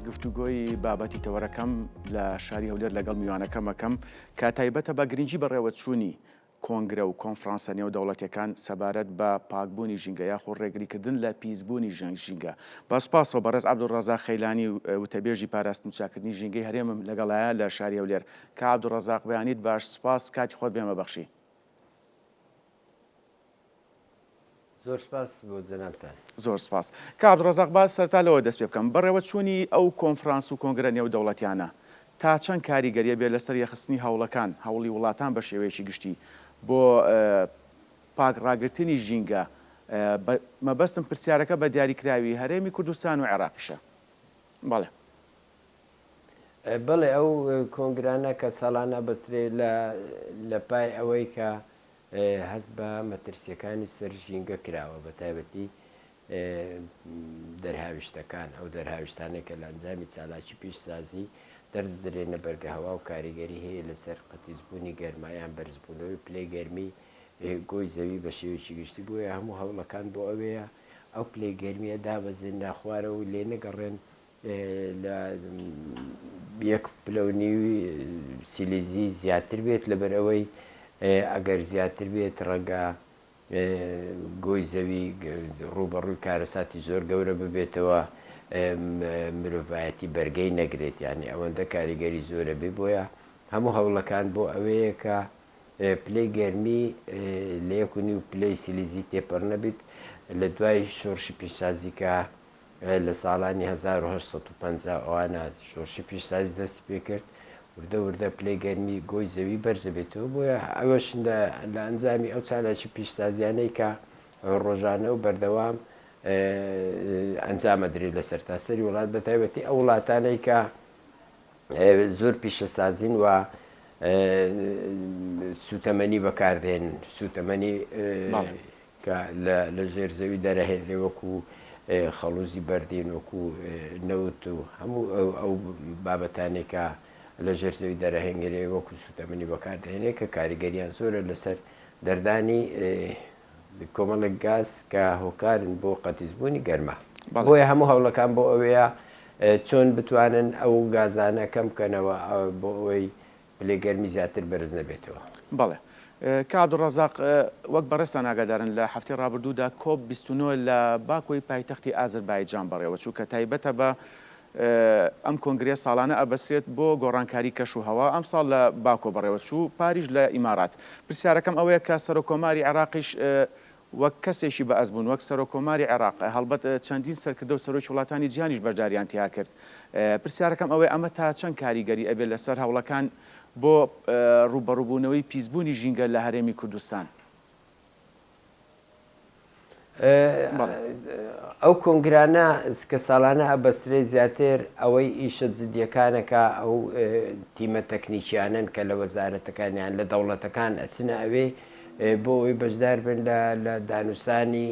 گفتوگۆی بابەتی تەوەرەکەم لە شاری هەولێر لەگەڵ میوانەکەم ئەکەم کە تایبەتە بە گرنگی بەڕێوەچوونی کۆنگرە و کۆنفرانسە نێودەوڵەتییەکان سەبارەت بە پاکبوونی ژینگە یاخۆ ڕێگریکردن لە پیسبوونی ژینگە. بە سوپاسەوە بەڕێز عەبدولڕەزاق خەیلانی وتەبێژی پاراستن و چاککردنی ژینگەی هەرێمم لەگەڵایە لە شاری هەولێر. کاک عەبدولڕەزاق بەیانیت باش، سوپاس کاتی خۆت بێمە بەخشی. زۆر سپاس بۆ جەنابتان. زۆر سپاس. کاک عەبدولرەزاق با سەرەتا لەوە دەست پێبکەم، بەڕێوەچوونی ئەو کۆنفرانس و کۆنگرە نێودەوڵەتیانە تا چەند کاریگەریی بێت لەسەر یەخستنی هەوڵەکان، هەوڵی وڵاتان بە شێوەیەکی گشتی بۆ پاک ڕاگرتنی ژینگە؟ بە مەبەستم پرسیارەکە بە دیاریکراوی هەرێمی کوردستان و عێراقیشە. بەڵێ. بەڵێ ئەو کۆنگرانە کە ساڵانە ئەبەسترێ لە لە پای ئەوەی کە هەست بە مەترسییەکانی سەر ژینگە کراوە، بەتایبەتی دەرهاویشتەکان، ئەو دەرهاویشتانەی کە لە ئەنجامی چالاکی پیشسازی دەردەدرێنە بەرگەهەوا و کاریگەری هەیە لەسەر قەتیسبوونی گەرما یان بەرزبوونەوەی پلەی گەرمی گۆی زەوی بە شێوەیەکی گشتی، بۆیە هەموو هەوڵەکان بۆ ئەوەیە ئەو پلەی گەرمییە دابەزێنرا خوارەوە و لێنەگەڕێن لە یەک پلە و نیو سیلیزی زیاتر بێت لەبەر ئەوەی ئەگەر زیاتر بێت ڕەنگە گۆی زەوی ڕووبەڕووی کارەساتی زۆر گەورە ببێتەوە مرۆڤایەتی بەرگەی نەگرێت یانی ئەوەندە کاریگەری زۆرە بێ بۆیە هەموو هەوڵەکان بۆ ئەوەیەکە پلەی گەرمی لە یەک و نیو پلەی سیلیزی تێپەڕ نەبیت لە دوای شۆڕشی پیشسازیکە لە ساڵانی هەزار و هەشت سەد و پەنجا ەوانە شۆرشی پیشسازی دەستی پێکرد وردە وردە پلەی گەرمی گۆی زەوی بەرزەبێتەوە بۆیە ئەوەش لە ئەنجامی ئەو چالاکی پیشسازیانەی کە ڕۆژانە و بەردەوام ئەنجامەدرێت لە سەرتاسەری وڵات بە تایبەتی ئەو وڵاتانەی کە زۆر پیشەسازین و سوتەمەنی بەکاردێن سوتەمەنی کە لە ژێر زەوی دەرەهێنێ وەکو خەڵوزی بەردین وەکو نەوت و هەموو ئەو بابەتانێکە لە ژێر زەوی دەرەهێنگرێ وەکو سوتەمەنی بەکاردێنێ کە کاریگەریان زۆرە لەسەر دەردانی کۆمەڵێک گاز کە هۆکارن بۆ قەتیسبوونی گەرما. بۆیە هەموو هەوڵەکان بۆ ئەوەیە چۆن بتوانن ئەو گازانە کەم بکەنەوە بۆ ئەوەی پلەی گەرمی زیاتر بەرز نەبێتەوە. بەڵێ. کاک عەبدولرەزاق، وەک بەڕێزتان ئاگادارن لە هەفتەی ڕابردوودا کۆپ بیست و نۆ لە باکۆی پایتەختی ئازەربایجان بەڕێوەچوو کە تایبەتە بە ئەم کۆنگرەیە ساڵانە ئەبەسرێت بۆ گۆڕانکاری کەش و هەوا، ئەمساڵ لە باکۆ بەڕێوەچوو، پاریش لە ئیمارات. پرسیارەکەم ئەوەیە کە سەرۆککۆماری عێراقیش وەک کەسێکی بەئەزموون، وەک سەرۆککۆماری عێراق، هەڵبەت چەندین سەرکردە و سەرۆکی وڵاتانی جیهانیش بەشدارییان تیا کرد، پرسیارەکەم ئەوەیە ئەمە تا چەند کاریگەری ئەبێت لەسەر هەوڵەکان بۆ ڕووبەڕووبوونەوەی پیسبوونی ژینگە لە هەرێمی کوردستان؟ ئەو کۆنگرانە کە ساڵانە ئەبەسترێ زیاتر ئەوەی ئیشە جدیەکانەکە ئەو تیمە تەکنیکیانن کە لە وەزارەتەکانیان لە دەوڵەتەکان ئەچنە ئەوێ بۆ ئەوی بەشدار بن لە دانوسانی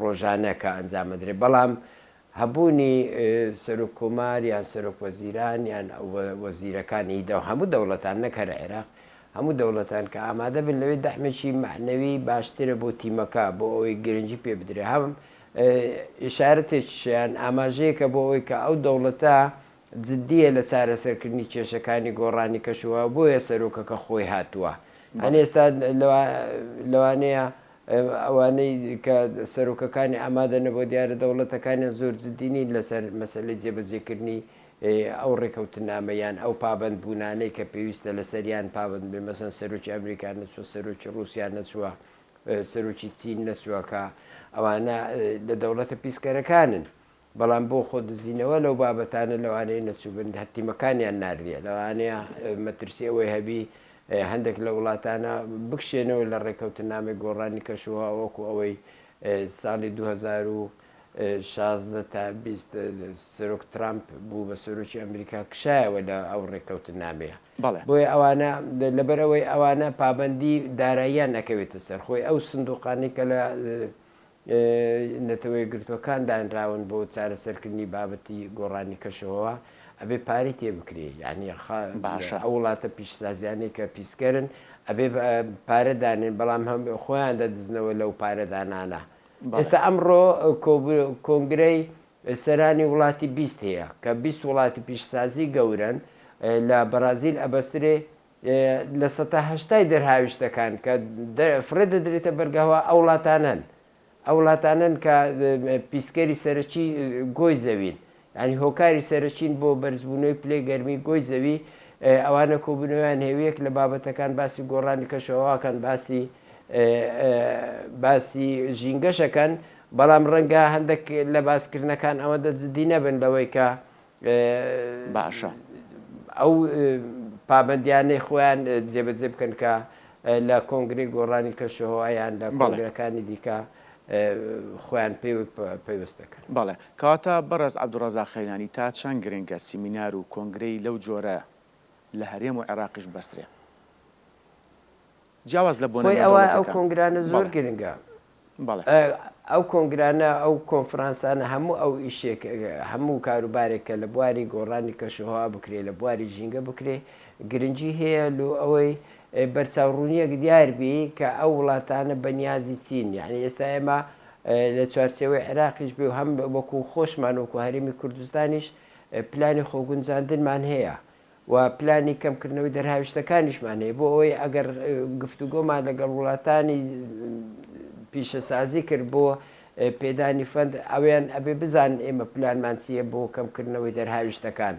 ڕۆژانەکە ئەنجامەدرێ بەڵام هەبوونی سەرۆک کۆمار یان سەرۆک وەزیران یان وەزیرەکانی هی دەو هەموو دەوڵەتان نەک هەر عێراق هەموو دەوڵەتان کە ئامادە بن لەوێ دەعمێکی مەعنەوی باشترە بۆ تیمەکە بۆ ئەوەی گرنگی پێ بدرێ هەم ئیشارەتێکیشە یان ئاماژەیەکە بۆ ئەوەی کە ئەو دەوڵەتە جدیە لە چارەسەرکردنی کێشەکانی گۆڕانی کەش و هەوا بۆیە سەرۆکەکە خۆی هاتوە هەن ئێستا لەوانەیە ئەوانەی کە سەرۆکەکانی ئامادە نەبوە دیارە دەوڵەتەکانیان زۆر جدی نین لەسەر مەسەلەی جێبەجێکردنی ئەو ڕێکەوتنامە یان ئەو پابەند بونانەی کە پێویستە لەسەریان پابەند بێ مەسەن سەرۆکی ئەمریکا نەچوە سەرۆکی ڕوسیا نەچوە سەرۆکی چین نەچوەکە ئەوانە لە دەوڵەتە پیسکەرەکانن بەڵام بۆ خۆ دزینەوە لەو بابەتانە لەوانەیە نەچووبن هەر تیمەکانیان ناردیە لەوانەیە مەترسی ئەوەی هەبی هەندێک لە وڵاتانە بکشێنەوە لە ڕێکەوتنامەی گۆڕانی کەشوهەوا وەکو ئەوەی ساڵی 2016 تا 20 سەرۆک ترامپ بوو بە سەرۆکی ئەمریکا کشایەوە لە ئەو ڕێکەوتنامەیە بەڵێ بۆیە ئەوانە لەبەر ئەوەی ئەوانە پابەندی داراییان نەکەوێتە سەر خۆی ئەو سندوقانی کە لە نەتەوەیەکگرتووەکان دانراون بۆ چارەسەرکردنی بابەتی گۆڕانی کەشوهەوا ئەبێ پارەی تێ بکرێ یانی خا باشە. ئەو وڵاتە پیشسازیانەی کە پیسکەرن ئەبێ پارە دانێن بەڵام هەم خۆیان دەدزنەوە لەو پارە دانانە ئێستا ئەمڕۆ کۆنگرەی سەرانی وڵاتی بیست هەیە کە بیست وڵاتی پیشسازی گەورەن لە بەڕازیل ئەبەسترێ لە سەتا هەشتای دەرهاویشتەکان کە فڕێ دەدرێتە بەرگەهەوا ئەو وڵاتانەن ئەو وڵاتانەن کە پیسکەری سەرەکی گۆی زەوین ینی هۆکاری سەرەکین بۆ بەرزبوونەوەی پلەی گەرمی گۆی زەوی ئەوانە کۆبوونەوەیان هێویەک لە بابەتەکان باسی گۆڕانی کەشەواکەن باسی باسی ژینگەشەکەن بەڵام ڕەنگە هەندێک لە باسکردنەکان ئەوەندە جددی نەبن لەوەی کە باشە ئەو پابەندیانەی خۆیان جێبەجێ بکەن کە لە کۆنگرەی گۆڕانی کەشوهەوا یان لە کۆنگرەکانی دیکە خۆیان پێ پەیوەست دەکەن. بەڵێ کەواتە بەڕێز عەبدوڕەزاق قەیرانی تا چەند گرنگە سیمینار و کۆنگرەی لەو جۆرە لە هەرێم و عێراقیش بەسترێ؟ جیاواز لە بۆنە خۆی ئەوە ئەو نێودەوڵەتیەکان. کۆنگرانە زۆر بەڵێ. گرنگە. بەڵێ. ئەو کۆنگرانە ئەو کۆنفرانسانە هەموو ئەو ئیشێک هەموو کاروبارێک کە لە بواری گۆڕانی کەشوهەوا بکرێ لە بواری ژینگە بکرێ گرنگی هەیە لۆ ئەوەی بەرچاو ڕوونیەک دیار بی کە ئەو وڵاتانە بە نیازی چین یانی ئێستا ئێمە لە چوارچێوەی عێراقیش بێ و هەم وەکوو خۆشمان وەکوو هەرێمی کوردستانیش پلانی خۆگونجاندنمان هەیە و پلانی کەمکردنەوەی دەرهاویشتەکانیشمان هەیە بۆ ئەوەی ئەگەر گفتوگۆمان لەگەڵ وڵاتانی پیشەسازی کرد بۆ پێدانی فەند ئەویان ئەبێ بزان ئێمە پلانمان چییە بۆ کەمکردنەوەی دەرهاویشتەکان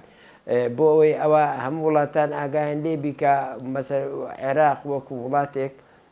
بۆ ئەوەی ئەوە هەموو وڵاتان ئاگایان لێبیکە مەسەر عێراق وەکو وڵاتێک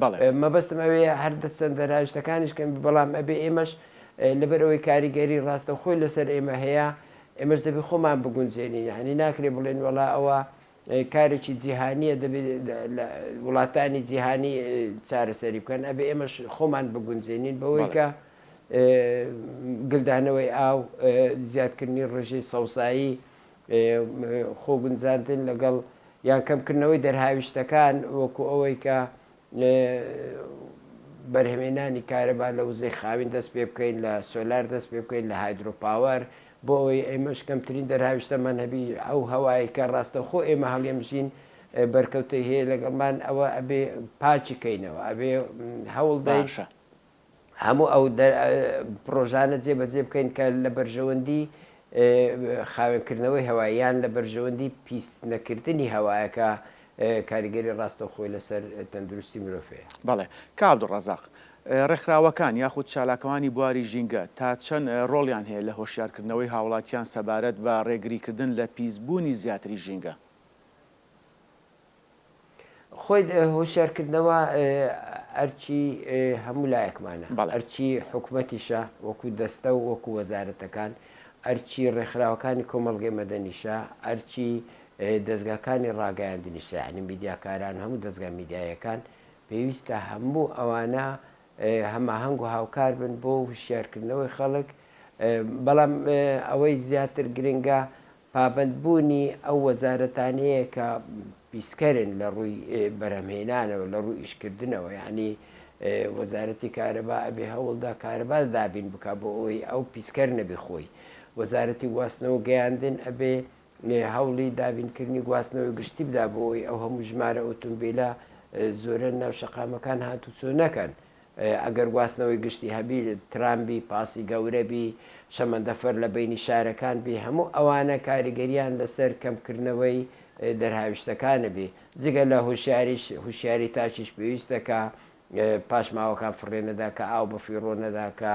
بەڵێ. مەبەستم ئەوەیە هەر دەرچەندە راوێژتەکانیش کەم بێ بەڵام ئەبێ ئێمەش لەبەر ئەوەی کاریگەری راستەوخۆی لەسەر ئێمە هەیە ئێمەش دەبێ خۆمان بگونجێنین یانی ناکرێ بڵێن وەڵا ئەوە کارێکی جیهانیە دەبێ لە وڵاتانی جیهانی چارەسەری بکەن ئەبێ ئێمەش خۆمان بگونجێنین بەوەی کە گلدانەوەی ئاو زیادکردنی ڕژەی سەوزایی خۆگونجاندن لەگەڵ یان کەمکردنەوەی دەرهاویشتەکان وەکو ئەوەی کە بەرهەمێنانی کارەبا لە وزەی خاوین دەست پێ بکەین لە سۆلار دەست پێ بکەین لە هایدرۆ پاوەر بۆ ئەوەی ئێمەش کەمترین دەرهاویشتەمان هەبی ئەو هەوای کە ڕاستەوخۆ ئێمە هەڵیەمژین بەرکەوتەی هەیە لەگەڵمان ئەوە ئەبێ پاکی کەینەوە ئەبێ هەوڵدەین. هەموو ئەو پڕۆژانە جێبەجێ بکەین کە لە بەرژەوەندی خاوێنکردنەوەی هەوا یان لە بەرژەوەندی پیس نەکردنی هەوایە کە کاریگەری ڕاستەوخۆی لەسەر تەندروستی مرۆڤ هەیە. بەڵێ. کاک عەبدولڕەزاق، ڕێکخراوەکان یاخود چالاکوانی بواری ژینگە تا چەند ڕۆڵیان هەیە لە هۆشیارکردنەوەی هاوڵاتیان سەبارەت بە ڕێگریکردن لە پیسبوونی زیاتری ژینگە؟ خۆی هۆشیارکردنەوە ئەرکی هەموو لایەکمانە، ئەرکی حکومەتیشە وەکو دەستە و وەکو وەزارەتەکان، ئەرکی ڕێکخراوەکانی کۆمەڵگەی مەدەنیشە، ئەرکی دەزگاکانی ڕاگەیاندنیشە، یەعنی میدیاکاران، هەموو دەزگا میدیاییەکان پێویستە هەموو ئەوانە هەماهەنگ و هاوکار بن بۆ هوشیارکردنەوەی خەڵک، بەڵام ئەوەی زیاتر گرنگە پابەندبوونی ئەو وەزارەتانەیە کە پیسکەرن لە ڕووی بەرهەمهێنانەوە، لە ڕووی ئیشکردنەوە، یانی وەزارەتی کارەبا ئەبێ هەوڵدا کارەبا دابین بکا بۆ ئەوەی ئەو پیسکەر نەبێ خۆی، وەزارەتی گواستنەوە و گەیاندن ئەبێ هەوڵی دابینکردنی گواستنەوەی گشتی بدا بۆ ئەوەی ئەو هەموو ژمارە ئۆتۆمبیلە زۆرە ناو شەقامەکان هاتوچۆ نەکەن. ئەگەر گواستنەوەی گشتی هەبی، ترام بی، پاسی گەورە بی، شەمەندەفەر لە بەینی شارەکان بی، هەموو ئەوانە کاریگەریان لەسەر کەمکردنەوەی دەرهاویشتەکانە بی. جگە لە هوشیاریش، هوشیاری تاکیش پێویستە کە پاشماوەکان فڕێ نەدا، کە ئاو بە فیڕۆ نەدا، کە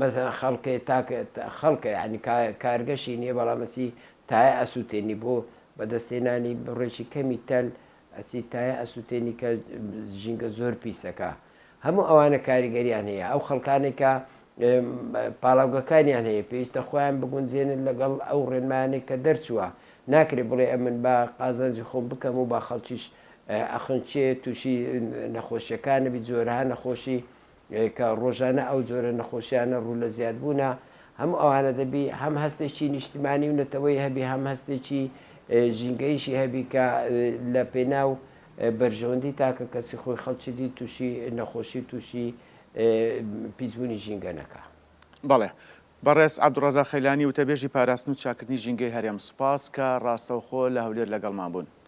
مەسەلەن خەڵکێ تاک خەڵکە یانی کارگەشی نیە بەڵام ئەچی تایە ئەسوتێنی بۆ بەدەستهێنانی بڕێکی کەمی تەل ئەچیت تایە ئەسوتێنی کە ژینگە زۆر پیسەکە هەموو ئەوانە کاریگەریان هەیە ئەو خەڵکانێک کە پاڵاوگەکانیان هەیە پێویستە خۆیان بگونجێنن لەگەڵ ئەو ڕێنمانێک کە دەرچووە ناکرێت بڵێ ئەمن بە قازانجی خۆم بکەم و با خەڵکیش ئەخنچێ تووشی نەخۆشیەکانەبی جۆرەها نەخۆشی کە ڕۆژانە ئەو جۆرە نەخۆشیانە ڕوو لە زیادبوونە، هەموو ئەوانە دەبی هەم هەستێکی نیشتمانی و نەتەوەیی هەبی هەم هەستێکی ژینگەییشی هەبی کە لە پێناو بەرژەوەندی تاکە کەسی خۆی خەڵکی دی تووشی نەخۆشی و تووشی پیسبوونی ژینگە نەکا. بەڵێ. بەڕێز عەبدوڵڕەزاق خەیلانی، وتەبێژی پاراستن و چاککردنی ژینگەی هەرێم، سوپاس کە ڕاستەوخۆ لە هەولێر لەگەڵمان بوون.